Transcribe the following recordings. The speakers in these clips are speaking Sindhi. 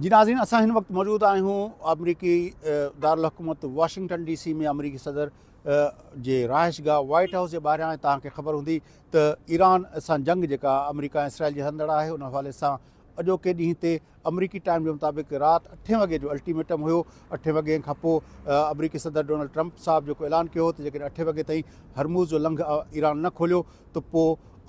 جي ناظرين اسان هن وقت موجود آهيون آمريڪي دارالحڪومت واشنگٽن ڊي سي ۾ آمريڪي صدر جي رهائش گاهه وائيٽ هائوس جي ٻاهريان ۽ توهان کي خبر هوندي ته ايران سان جنگ جيڪا آمريڪا ۽ اسرائيل جي هلندڙ آهي ان حوالي سان اڄوڪي ڏينهن تي آمريڪي ٽائيم جي مطابق رات اٺين وڳي جو الٽيميٽم هيو اٺين وڳين کان پوء آمريڪي صدر ڊونلڊ ٽرمپ صاحب جيڪو اعلان ڪيو هو ته جيڪڏهن اٺين وڳي تائين هرموز جو لنگهه ايران نه کوليو ته پوء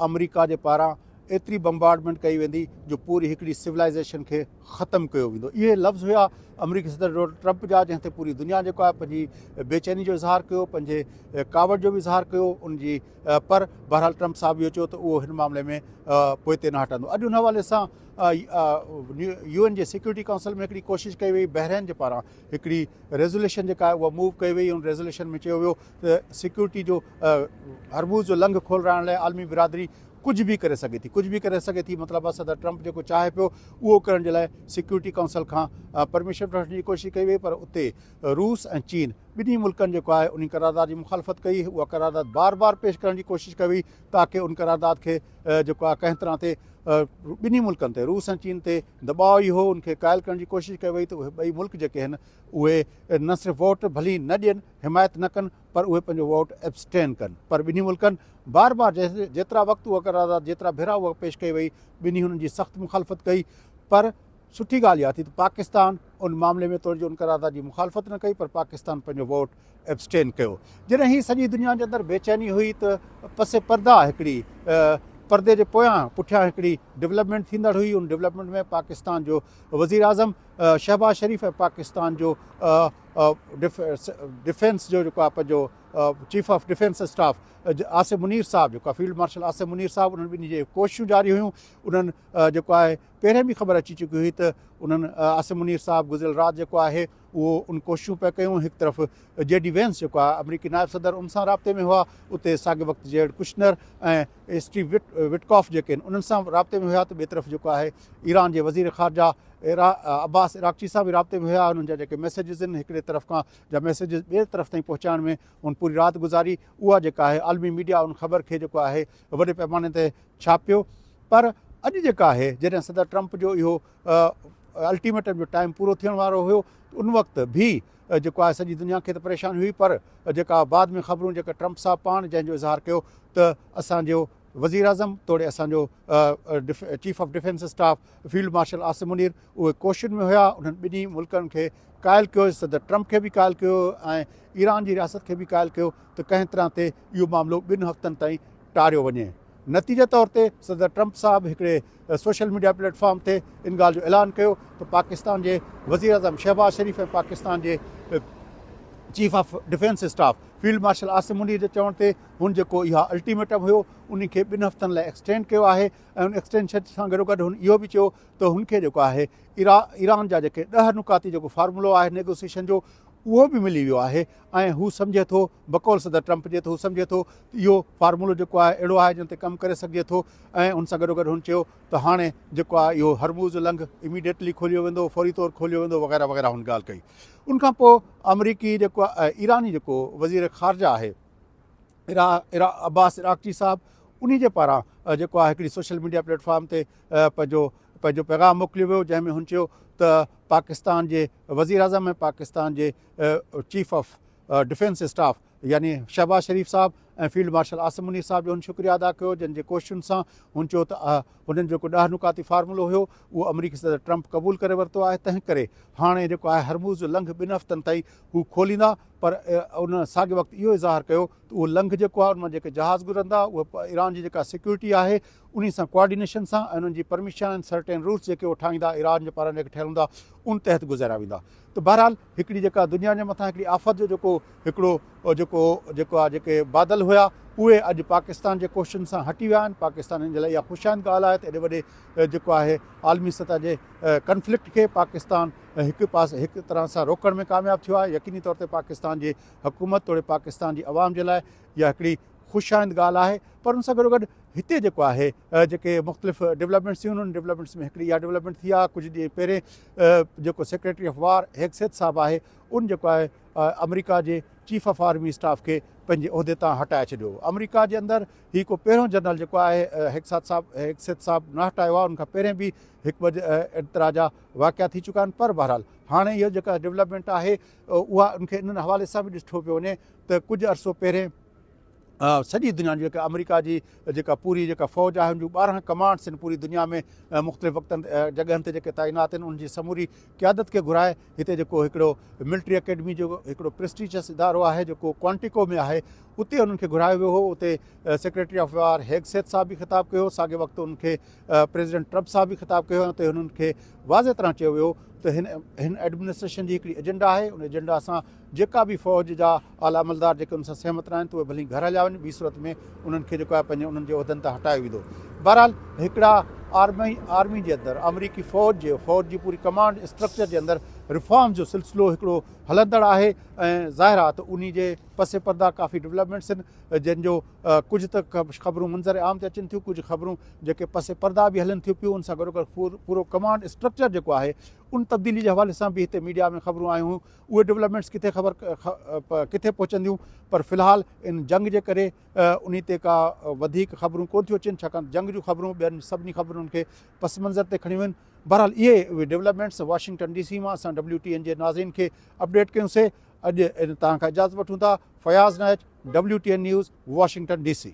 آمريڪا جي پاران ايتري بمبارڊمينٽ ڪئي ويندي جو پوري هڪڙي سولائيزيشن کي ختم ڪيو ويندو اهي لفظ هيا آمريڪي صدر ڊونلڊ ٽرمپ جا جنهن تي پوري دنيا جيڪو آهي پنهنجي بي چيني جو اظهار ڪيو پنهنجي ڪاوڙ جو به اظهار ڪيو ان جي پر بهرحال ٽرمپ صاحب اهو چيو ته اهو هن معاملي ۾ پوئتي نه هٽندو اڄ ان حوالي سان يو اين جي سيڪورٽي ڪائونسل ۾ هڪڙي ڪوشش ڪئي وئي بحرين جي پاران هڪڙي ريزوليشن جيڪا آهي اها موو ڪئي وئي ان ريزوليشن ۾ چيو ويو ته سيڪورٽي جو هرموز جو لنگهه کولرائڻ لاء عالمي برادري ڪجهه به ڪري سگهي ٿي ڪجهه به ڪري سگهي ٿي مطلب آهي صدر ٽرمپ جيڪو چاهي پيو اهو ڪرڻ جي لاء سيڪيورٽي ڪائونسل کان پرميشن به وٺڻ جي ڪوشش ڪئي وئي پر اتي روس ۽ چين ٻنهي ملڪن جيڪو آهي ان قرارداد جي مخالفت ڪئي اها قرارداد بار بار پيش ڪرڻ جي ڪوشش ڪئي وئي تاڪي ان قرارداد کي جيڪو آهي ڪنهن طرح تي ٻنهي ملڪن تي روس ۽ چين تي دٻاء ئي هو ان کي قائل ڪرڻ جي ڪوشش ڪئي وئي ته اهي ٻئي ملڪ جيڪي آهن اهي نه صرف ووٽ ڀلي نه ڏين حمايت نه ڪن پر اهي پنهنجو ووٽ ابسٽين ڪن پر ٻنهي ملڪن بار بار جيترا وقت اها قرارداد جيترا ڀيرا اها پيش ڪئي وئي ٻنهي هنن جي سخت مخالفت ڪئي پر سٺي ڳالهه اها ٿي ته پاڪستان ان معاملي ۾ توڙي جو ان قرارداد جي مخالفت نه ڪئي پر پاڪستان پنهنجو ووٽ ابسٽين ڪيو جڏهن هي سڄي دنيا جي اندر بيچيني هئي ته پس پردا هڪڙي پردي جي پويان پٺيان هڪڙي ڊيولپمنٽ ٿيندڙ هئي ان ڊيولپمنٽ ۾ پاڪستان جو وزير اعظم شهباز شريف ۽ پاڪستان جو ڊفينس جو جيڪو آهي پنهنجو chief of defence staff Asif Munir صاحب جيڪو آهي فيلڊ مارشل آصف منير صاحب انهن ٻنهي جي ڪوششون جاري هيون انهن جيڪو آهي پهرين به خبر اچي چڪي هئي ته انهن آصف منير صاحب گذريل رات جيڪو آهي اهو ان ڪوششون پيا ڪيون هڪ طرف جي ڊي وينس جيڪو آهي آمريڪي نائب صدر ان سان رابطي ۾ هئا اتي ساڳي وقت جيرڊ ڪشنر ۽ اسٽيو وٽ وٽڪاف جيڪي آهن انهن سان رابطي ۾ هيا ته ٻئي طرف جيڪو آهي ايران جي وزير خارجه عباس عراقچي سان به رابطي ۾ هيا انهن جا جيڪي ميسيجز آهن هڪڙي طرف کان جا ميسيجز ٻير طرف تائين پهچائڻ ۾ هن پوري رات گذاري اها جيڪا آهي عالمي ميڊيا ان خبر کي جيڪو آهي وڏي پيماني تي ڇاپيو پر اڄ جيڪا آهي جڏهن صدر ٽرمپ جو اهو الٽيميٽم جو ٽائيم پورو ٿيڻ وارو هيو ان وقت به جيڪو آهي سڄي دنيا کي ته پريشاني هئي پر جيڪا بعد ۾ خبرون جيڪا ٽرمپ صاحب پاڻ جنهن جو اظهار ڪيو ته اسانجو وزيراعظم توڙي اسان جو chief of defence staff field marshal Asim Munir اهي ڪوششن ۾ هيا انهن ٻنهي ملڪن کي قائل ڪيو صدر ٽرمپ کي به قائل ڪيو ۽ ايران جي رياست کي به قائل ڪيو ته ڪنهن طرح تي اهو معاملو ٻن هفتن تائين ٽاريو وڃي نتيجي طور تي صدر ٽرمپ صاحب هڪڙي سوشل ميڊيا پليٽ فارم تي ان ڳالهه جو اعلان ڪيو ته پاڪستان جي وزير اعظم شهباز شريف ۽ پاڪستان جي chief of defence staff field marshal Asim Munir جي چوڻ تي هن جيڪو اها الٽيميٽم هيو ان کي ٻن هفتن لاء ايڪسٽينڊ ڪيو آهي ۽ ان ايڪسٽينشن سان گڏو گڏ هن اهو به چيو ته هن کي جيڪو آهي ايران جا جيڪي ڏهه نقاطي جيڪو فارمولو آهي نيگوسيشن جو اهو به ملي ويو آهي ۽ هو سمجهي ٿو بقول صدر ٽرمپ جي ته هو سمجهي ٿو ته اهو فارمولو جيڪو آهي اهڙو آهي جنهن تي ڪم ڪري سگهجي ٿو ۽ ان سان گڏو گڏ هن چيو ته هاڻي جيڪو آهي اهو هرموز لنگ اميڊيٽلي کوليو ويندو فوري طور کوليو ويندو وغيره وغيره هن ڳالهه ڪئي ان کان پوء آمريڪي جيڪو ايراني جيڪو وزير خارجه آهي عباس عراقچي صاحب انهي جي پاران جيڪو آهي هڪڙي سوشل ميڊيا پليٽ فارم تي پنهنجو پنهنجو پيغام موڪليو ويو جنهن ۾ هن چيو ته پاڪستان جي وزير اعظم ۽ پاڪستان جي چيف آف ڊفينس اسٽاف يعني شهباز شريف صاحب ۽ فيلڊ مارشل عاصم منير صاحب جو هن شڪريه ادا ڪيو جن جي ڪوششن سان هن چيو ته هنن جيڪو ڏهه نقاتي فارمولو هيو اهو آمريڪي صدر ٽرمپ قبول ڪري ورتو آهي تنهن ڪري هاڻي جيڪو آهي هرموز لنگهه ٻن هفتن تائين هو کوليندا پر انهن ساڳئي وقت اهو اظهار ڪيو ته اهو لنگهه جيڪو آهي ان مان جيڪي جهاز گذرندا اهي ايران جي جيڪا سيڪيورٽي آهي انهي سان ڪوآرڊينيشن سان ۽ انهن جي پرميشن آهن سرٽين روٽس جيڪي اهي ٺاهيندا ايران جي پاران جيڪي ٺهيل هوندا ان تحت گذاريا ويندا ته بهرحال هڪڙي جيڪا دنيا جي مٿان هڪڙي آفت جو جيڪو هڪڙو جيڪو جيڪو آهي جيڪي بادل هيا اهي اڄ پاڪستان جي ڪوششن سان هٽي ويا آهن پاڪستانين جي لاء اها خوش آئند ڳالهه آهي ته ايڏي وڏي جيڪو آهي عالمي سطح جي ڪنفلڪٽ کي پاڪستان ۽ هڪ پاسي هڪ طرح سان روڪڻ ۾ ڪامياب ٿيو آهي يقيني طور تي پاڪستان جي حڪومت توڙي پاڪستان جي عوام جي لاء اها هڪڙي خوش آئند ڳالهه آهي پر ان سان گڏو گڏ هتي جيڪو آهي جيڪي مختلف ڊولپمينٽس ٿيون انهن ڊولپمينٽس ۾ هڪڙي اها ڊولپمينٽ ٿي آهي ڪجهه ڏينهن پهرين جيڪو سيڪريٽري آف وار هيگسيٿ صاحب آهي ان جيڪو آهي آمريڪا جي چيف آف آرمي اسٽاف کي پنهنجي عهدي تان هٽائي ڇڏيو آمريڪا جي اندر هي کو پهريون جنرل جيڪو آهي هيگسات صاحب هيگسيت صاحب نه هٽايو آهي ان کان پهرين به هڪ ٻه اعتراضا واقعا ٿي چڪا آهن پر بهرحال هاڻي هيء جيڪا ڊولپمينٽ آهي اها ان کي انهن حوالي سان به ڏٺو پيو وڃي ته ڪجهه عرصو پهرين سڄي دنيا جي جيڪا آمريڪا جي جيڪا پوري جيڪا فوج آهي ان جون ٻارهن ڪمانڊس آهن پوري دنيا ۾ مختلف وقتن جڳهن تي جيڪي تعينات آهن ان جي سموري قيادت کي گهرائي هتي جيڪو هڪڙو ملٽري اڪيڊمي جو هڪڙو پرسٽيجس ادارو آهي جيڪو ڪوانٽيڪو ۾ آهي اتي انهن کي گهرايو ويو هو اتي سيڪريٽري آف وار هيگسيت صاحب به خطاب ڪيو ساڳي وقت ان کي پريزيڊنٽ ٽرمپ سان به خطاب ڪيو ويو ته هنن کي واضح طرح چيو ويو ته هن هن ايڊمنسٽريشن جي هڪڙي ايجنڊا آهي ان ايجنڊا سان جيڪا به فوج جا اعليٰ عملدار جيڪي ان سان سهمت نه آهن ته اهي ڀلي گهر هليا وڃن ٻي صورت ۾ انهن کي جيڪو آهي پنهنجي انهن جي عهدن تان هٽايو ويندو بهرحال هڪڙا آرمي آرمي جي اندر آمريڪي فوج جي فوج جي پوري ڪمانڊ اسٽرڪچر جي اندر ريفارمز جو سلسلو هڪڙو هلندڙ آهي ۽ ظاهر آهي ته انهي جي پس پردا ڪافي ڊولپمينٽس آهن جن جو ڪجهه ته خبرون منظر عام تي اچن ٿيون ڪجهه خبرون جيڪي پس پرده به هلن ٿيون پيون ان سان گڏوگڏ پورو ڪمانڊ اسٽرڪچر جيڪو آهي ان تبديلي جي حوالي سان به هتي ميڊيا ۾ خبرون آيون هيون اهي ڊولپمينٽس ڪٿي خبر ڪٿي پهچنديون پر في الحال ان جنگ جي ڪري انهي تي ڪا وڌيڪ خبرون ڪون ٿيون اچن ڇاڪاڻ جنگ جون خبرون ٻين سڀني خبرن کي پس منظر تي کڻيون ويون بهرحال اهي ڊولپمينٽس واشنگٽن ڊي سي مان اسان ڊبليو ٽي اين جي ناظرين کي اپڊيٽ ڪيون سي اڄ توهان کان اجازت وٺون ٿا Fayaz Nahaj WTN News Washington D C.